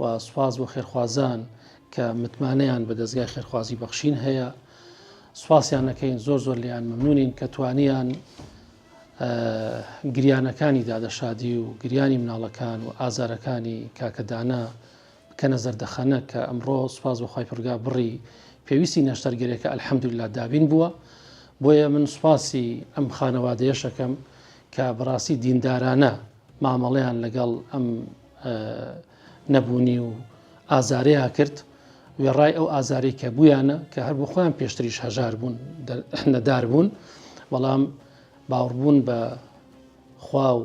و سوپاس بۆ خێرخوازان کە متمانەیان بە دەزگای خێرخوازی بەخشین هەیە سوپاسیان نەکەین زۆر زۆر لیان ممنونین کە توانیان گریانەکانی دادەشادی و گریانی مناڵەکان و ئازارەکانی کاکەدانە بکەنە زەردەخەنە کە ئەمڕۆ سوپاس بەخوای پرگا بڕی پێویستی نەشتەرگەرێکە ئەلحەمدولا دابین بووە بۆیە من سوپاسی ئەم خانەوادەیەشەکەم کە بەڕاستی دیندارانە مامەڵەیان لەگەڵ ئەم نەبوونی و ئازارەیان کرد وێڕای ئەو ئازاری کە بوویانە کە هەر بۆ خۆیان پێشتریش هەژار بوون نەدار بوون بەڵام باوڕبوون بە خوا و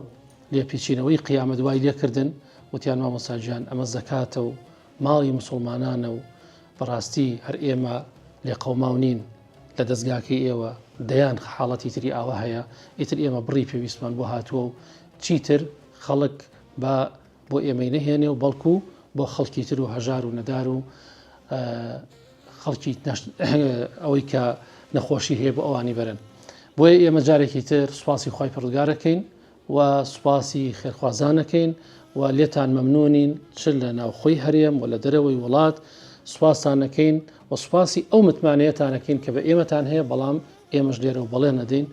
لێپیچینەوەی قیامە دوای لێکردن وتیان مامۆساجیان ئەمە زەکاتە و ماڵی مسلمانانە و بەڕاستی هەر ئێمە لێ قەوماو نین لە دەستگاکەی ئێوە دەیان حاڵەتی تری ئاوە هەیە ئیتر ئێمە بڕی پێویستمان بۆ هاتووە و چیتر خەڵک با بۆ ئێمەی نەهێنێ و بەڵکو بۆ خەڵکی تر و هەژار و نەدار و خەڵکی ئەوەی کە نەخۆشی هەیە بۆ ئەوانی بەرن بۆیە ئێمە جارێکی تر سوپاسی خی پڕگارەکەین و سوپاسی خێرخوازانەکەین و لێتان مەمنونین چ لە ناوخۆی هەرێم و لە دەرەوەی وڵات سوپاسانەکەین و سوپاسی ئەو متمانەیەتانەکەین کە بە ئێمەتان هەیە بەڵام ئێمەش لێرە و بەڵێ نەدەین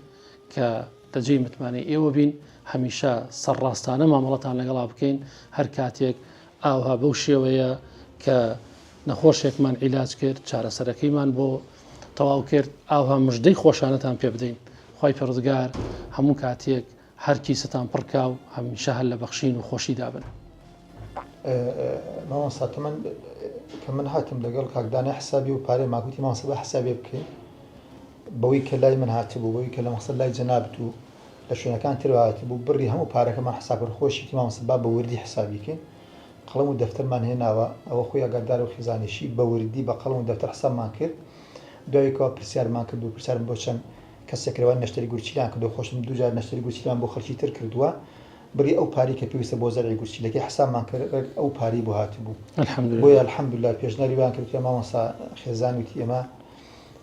کە بە جێی متمانەی ئێوە بین، هەمیشە سەرڕاستانە مامەڵەتان لەگەڵا بکەین، هەر کاتێک ئاوها بەو شێوەیە کە نەخۆشێکمان عیلاج کرد، چارەسەرەکەیمان بۆ تەواو کرد، ئاوها مژدەی خۆشانەتان پێ بدەین. خوای پەروەردگار هەموو کاتێک هەر کیستان پڕ کا و هەمیشە هەر لە بەخشین و خۆشیدا بن. مامۆستا تەمەن کە من هاتم لەگەڵ کاک دانای حسابی و پارەی ماکوتی مامۆستا با حسابێ بکەین. بەوەی کە لای من هاتبوو بەوەی کە لە مەخزەن لای جەنابت و لە شوێنەکان ترەوە هاتبوو بڕی هەموو پارەکەمان حساب کرد خۆشیتی مامۆستا با بە وردی حسابی کەین قەڵەم و دەفتەرمان هێناوە ئەوە خۆی ئەگەردار و خیزانیشی بە وردی بە قەڵەم و دەفتەر حسابمان کرد دوای کەوە پرسیارمان کرد و پرسیارم بۆ چەند کەسێک کرەوە نەشتەری گورچیلیان کردو خۆشم دوو جار نەشتەری گورچیلیان بۆ خەڵکی تر کردووە بڕی ئەو پارەی کە پێویستە بۆ زەرعی گورچیلەکەی حسابمان کرد ڕێک ئەو پارەی بۆ هاتبوو الحمدللە بۆیە الحمدللە پێشنیاری وایان کرد کە مامۆستا خێزان وتی ئێمە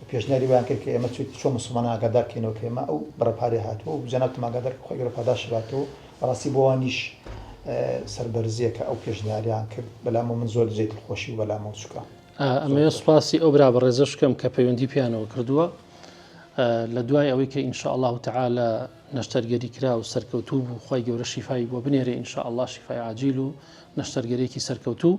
و پێشنیاری وایان کرد کە ئێمە چوت چۆن موسڵمانان ئاگادار کەینەوە کە ئێمە ئەو بڕە پارەیە هاتووە و جەنابتم ئاگادار کە خۆی گەورە پاداشتی باتەوە بەڕاستی بۆ وانیش سەربەرزیە کە ئەو پێشنیاریان کرد بەلامەوە من زۆر جێ دڵخۆشی و بەلامەوە چووکە ئەمەیە سوپاسی ئەو برا بەڕێزەش کەم کە پەیوەندی پیانەوە کردووە لە دوای ئەوەی کە ئینشاء الله تعاالە نەشتەرگەری کرا و سەرکەوتوو بوو خی گەورە شیفای بۆ بنێرێ ئینشاء الله شیفای عجیل و نەشتەرگەرێکی سەرکەوتوو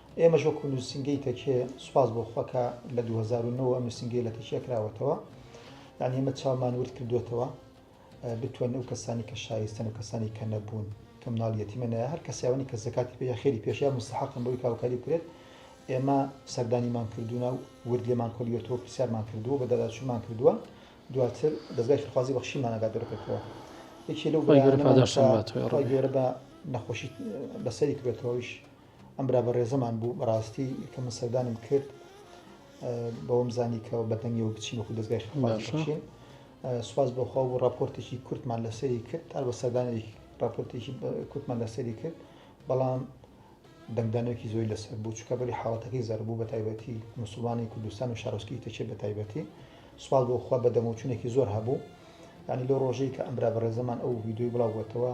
ئێمەش وەکو نوسینگەی تەکیە سوپاس بۆ خوا کە لە دوو هەزار و نۆ ئەم نوسینگەیە لە تەکیە کراوەتەوە یانی ئێمە چاومان ورد کردووەتەوە بتوانین ئەو کەسانی کە شایستەن و کەسانی کە نەبوون کە مناڵ یەتیمە نایە هەر کەسیاوانی کە زەکاتی پێ یا خێری پێش یا مستحقن بۆی کاوکاری بکرێت ئێمە سەردانیمان کردوونە و ورد لێمان کۆلیوەتەوە پرسیارمان کردووە بە داداچوومان کردووە دواتر دەزگای فرخوازی بەخشیمان ئەگات دەرکەتەوە یەکی لەو بەرانەمە گەورە بە نەخۆشی بەسەری کرێتەوەیش ئەم برا بەڕێزەمان بوو بەڕاستی کە من سەردانیم کرد بەوەم زانی کە بەدەنگیەوە بچین وەکو دەستگای خێماشین سوپاس بەخوا و راپۆرتێکی کورتمان لە سەری کرد هەر بە سەردانێک راپۆرتێکی کورتمان لە سەری کرد بەڵام دەنگدانێکی زۆی لەسەر بوو چکە بەری حاڵەتەکەی زەربوو بە تایبەتی مسلمانی کوردستان و شارۆسکی تەچێت بە تایبەتی سوال بۆ خوا بە دەموچونێکی زۆر هەبوو ینی لەو ڕۆژەی کە ئەمرا بەڕێزەمان ئەو ویددیوی بڵاوبێتەوە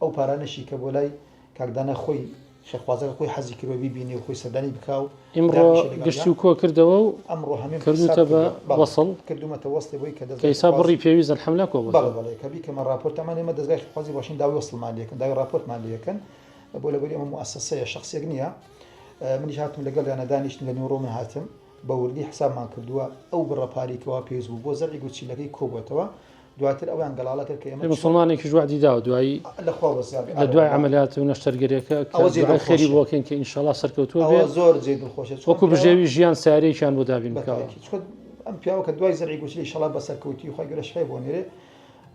ئەو پارانەشی کە بۆ لای کاک دانا خۆی خێرخوازەکە خۆی حەزی کردوە بیبینێ و خۆی سەردانی بکا و ئیمڕۆ دانیشێ لەگەڵیا. گشتی و کۆ کردەوە و ئەمڕۆ هەموویم کردووتە حیساب بە کردووە. بەڵێ، وەسڵ. کردوومەتە وەسڵی بۆی کە کە دەزگای ئیسا خێرخوازی. بڕی پێویست ئەلحەملا کۆ بڵێ، بۆتەوە. بەڵێ، کە بیکەمە ڕاپۆرت ئەمان ئێمە دەزگای خێرخوازی باشین داوای وەسڵمان لێکن، داوای ڕاپۆرتمان لێکن. بۆ لەبەری ئەمە موئەسەسەیە، شەخسێک نییە. منیش هاتم لەگەڵیانا دانیشتین، لە نیوەڕۆ من هاتم. بە وردی حیسابمان کردووە. ئەو بڕە پارەی کە وا پێویست بوو بۆ زەرعی گورچیلەکەی کۆ بۆتەوە. دواتر ئەویان گەڵاڵە کرد کە ئێمە پێ موسڵمانێکیش وەعدی داوە دوایی لە خوا وەسیاب لە دوای ئەوە عەمەلیات و نەشتەرگەریەکە کە ئەوە جێی دوعای خێری دڵخۆشە. بۆ بکەین کە ئینشەڵا سەرکەوتووە ئەوە بێت زۆر جێی دڵخۆشە چکە وەکو پیاوە بژێوی ژیان سارێکیان بۆ دابین بە بکەوە تاکی چکە ئەم پیاوە کە دوای زەرعی گوتلی شەڵا بە سەرکەوتی خۆی گەرە شای بۆ نێرێ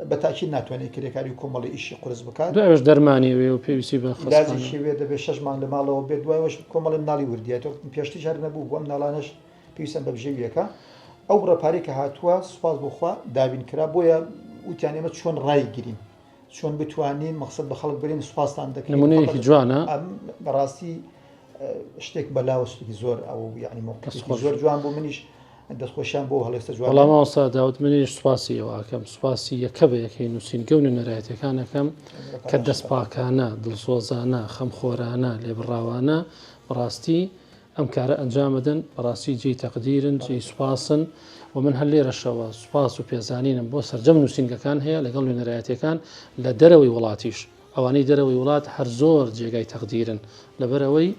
بە تاکید ناتوانێت کرێکاری و کۆمەڵی ئیشی قورس بکات دوایش دەرمانی وێ و پێویستی بە خەستخانە داجێکی وێ دەبێت شەش مانگ لە ماڵەوە بێت دوای وەش کۆمەڵی مناڵی وردیاتەوە پێشتیش هەر نەبوو بۆ ئەم ناڵانەش پێویستیان بە بژێوییەکە. ئەو بڕە پارەی کە هاتووە سوپاس بۆ خوا دابین کرا، بۆیە وتیان ئێمە چۆن ڕایگرین، چۆن بتوانین مەقسەد بە خەڵک بەرین سوپاستان دەکەین. نمونەیەکی جوانە. بەڕاستی شتێک بەلاوە سوودێکی زۆر ئەو یعنی موقفێکی زۆر جوان بوو منیش دەستخۆشیان بۆ هەڵێستە جوان. وەڵا مامۆستا داود منیش سوپاسی ئێوە ئەکەم، سوپاسی یەکە بە یەکەی نووسینگە و نوێنەرایەتییەکان ئەکەم کە دەستپاکانە، دڵسۆزانە، خەمخۆرانە، لێبڕاوانە بەڕاستی ئەم کارە ئەنجامەدەن بەڕاستی جێی تەقدیرن جێی سوپاسن و من هەر لێرەشەوە سوپاس و پێزانینم بۆ سەرجەم نووسینگەکان هەیە لەگەڵ نوێنەرایەتەکان لە دەرەوەی وڵاتیش ئەوانەی دەرەوەی وڵات هەر زۆر جێگای تەقدیرن لەبەرەوەی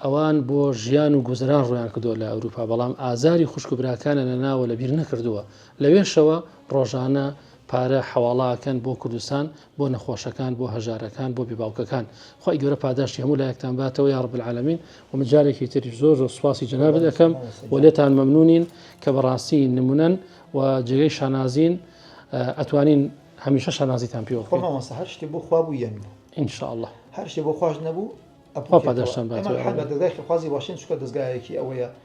ئەوان بۆ ژیان و گوزران ڕویان کردو لە ئەوروپا بەڵام ئازاری خوشک و براکانە لە ناوە لە بیر نەکردووە لەوێشەوە ڕۆژانە پارە حواڵاکەن بۆ کوردستان بۆ نەخۆشەکان بۆ هەژارەکان بۆ بێباوکەکان خی گەورە پاداشتی هەموو لایەکتان باتەوە یاڕب العالمین ومن جارێکی تریش زۆر زۆر سواسی جناب دەکەم و لێتان مەمنونین کە بەڕاستی نمونەن و جێگەی شانازین ئەتوانین هەمیشە شانازیتان پێوە هەر شتی بۆ خوا بوو یەن بوو انشاء الله هەر شتی بۆ خواش نەبوو پاداشتان باتەوە خوازی باشین چکە دەستگایەکی ئەوەیە